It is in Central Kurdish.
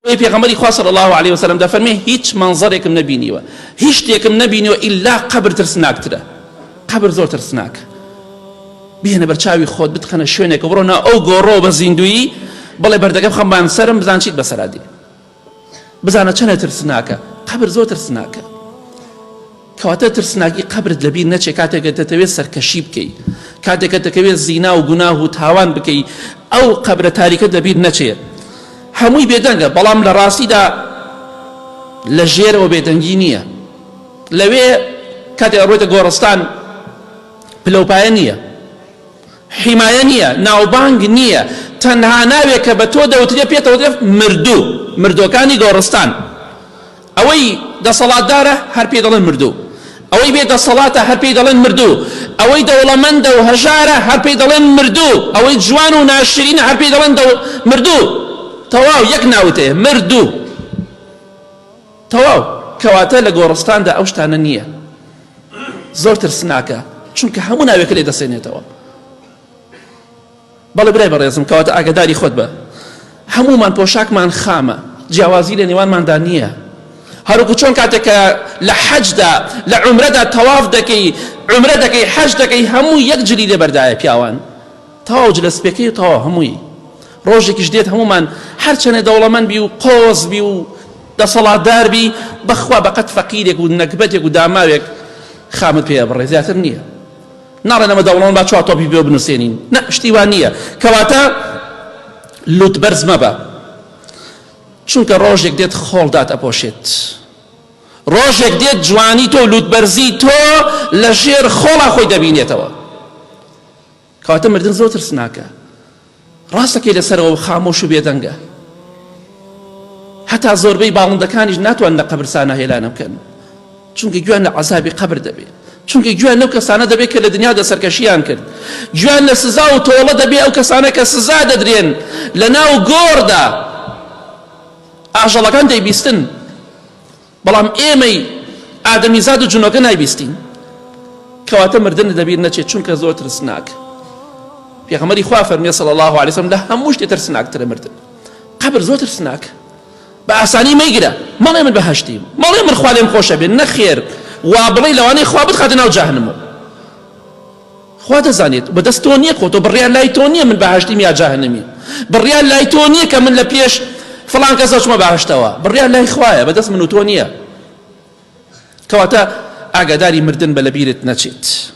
بۆیە پێغەمبەری خوا صلی الله علیه و سلم دەفەرمێ هیچ مەنزەرێکم نەبینیوە هیچ شتێکم نەبینیوە ئیلا قەبر ترسناکترە قەبر زۆر ترسناکە بهێنە بەرچاوی خۆت بتخەنە شوێنێک بڕۆ نا ئەو گۆڕۆ بە زیندویی بڵێ بەردەگە بخەمبان سرم بزان چیت بەسەرادی بزانە چەنە ترسناکە قەبر زۆر ترسناکە کەواتە ترسناکی قەبرت لەبیر نەچێ کاتێک کە دەتەوێ سەرکەشی بکەی کاتێک کە دەکەوێ زینا و گوناه و تاوان بکەی ئەو قەبرە تاریکەت لەبیر نەچێ هەمووی بێدەنگە بەڵام لە ڕاستیدا لە ژێرەوە بێدەنگی نییە لەوێ کاتێک ئەڕۆیتە گۆڕستان پلەوپایە نییە حیمایە نییە ناوبانگ نییە تەنها ناوێک کە بە تۆ دەوترێ پێتەوترێ مردوو مردۆکانی گۆڕستان ئەوەی دەسەڵاتدارە هەر پێی دەڵێن مردوو، ئەوەی بێ دەسەڵاتە هەر پێی دەڵێن مردوو، ئەوەی دەوڵەمەندە و هەژارە هەر پێی دەڵێن مردوو، ئەوەی جوان و ناشرینە هەر پێی دەڵێن مردوو. تەواو یەک ناوت هەیە، مردوو. تەواو. کەواتە لە گۆڕستاندا ئەو شتانە نییە. زۆر ترسناکە، چونکە هەموو ناوێکە لێ دەسێنێتەوە. بەڵێ برای بەڕێزم کەواتە ئاگاداری خۆت بە هەموومان پۆشاکمان خامە جیاوازی لە نێوانماندا نییە هەروەکو چۆن کاتێک کە لە حەجدا لە عومرەدا تەواف دەکەی عومرە دەکەی حەج دەکەی هەموو یەک جلی لێبەردایە پیاوان تەواو جلە سپێکەی تەواو هەمووی ڕۆژێکیش دێت هەمومان هەرچەنێ دەوڵەمەند بی و قۆز بی و دەسەڵاتدار بی بەخوا بەقەت فەقیرێک و نەگبەتێک و داماوێک خامت پێ بڕێ زیاتر نییە ناڵێن ئەمە دەوڵەمەند با چوار تۆپی پێوە بنووسێنین، نە شتی وا نییە. کەواتە لووتبەرز مەبە، چونکە ڕۆژێک دێت خۆڵ دات ئەپۆشێت. ڕۆژێک دێت جوانی تۆ و لووتبەرزی تۆ لە ژێر خۆڵا خۆی دەبینێتەوە. کەواتە مردن زۆر ترسناکە. ڕاستەکەی لەسەرەوە خامۆش و بێدەنگە هەتا زۆربەی باڵندەکانیش ناتوان لە قەبرسانە هێلانە بکەن چونکە گویان لە عذابی قەبر دەبێت چونکە گویان لەو کەسانە دەبێت کە لە دنیا دە سەرکەشیان کرد گویان لە سزا و تۆڵە دەبێت ئەو کەسانە کە سزا دەدرێن لە ناو گۆڕدا ئاژەڵەکان دەیبیستن بەڵام ئێمەی ئادەمیزاد و جنۆکە نایبیستین کەواتە مردن لەبیر نەچێت چونکە زۆر ترسناک پێغەمەری خوا فەرمیێ سەڵ الله عليه وسلم لە هەموو شتێ ترسناکترە مردن قبر زۆر ترسناک بە ئاسانی مەیگرە مەڵێ من بەهشتیم مەڵێ من خوا لێم خۆشە بێن نەخێر وا بڵێ لەوانەیە خوا بتخاتە ناو جاهنمەوە خوا دەزانێت بە دەست تۆ نیە خۆتۆ بڕیار لای تۆ نیە من بەهەشتیم یا جەهەنەمیم بڕیار لای تۆ نیە کە من لە پێش فڵان کەس ئەچمە بەهەشتەوە بڕیار لای خوایە بە دەست من و تۆ نیە کەواتە ئاگاداری مردن بە لەبیرت نەچێت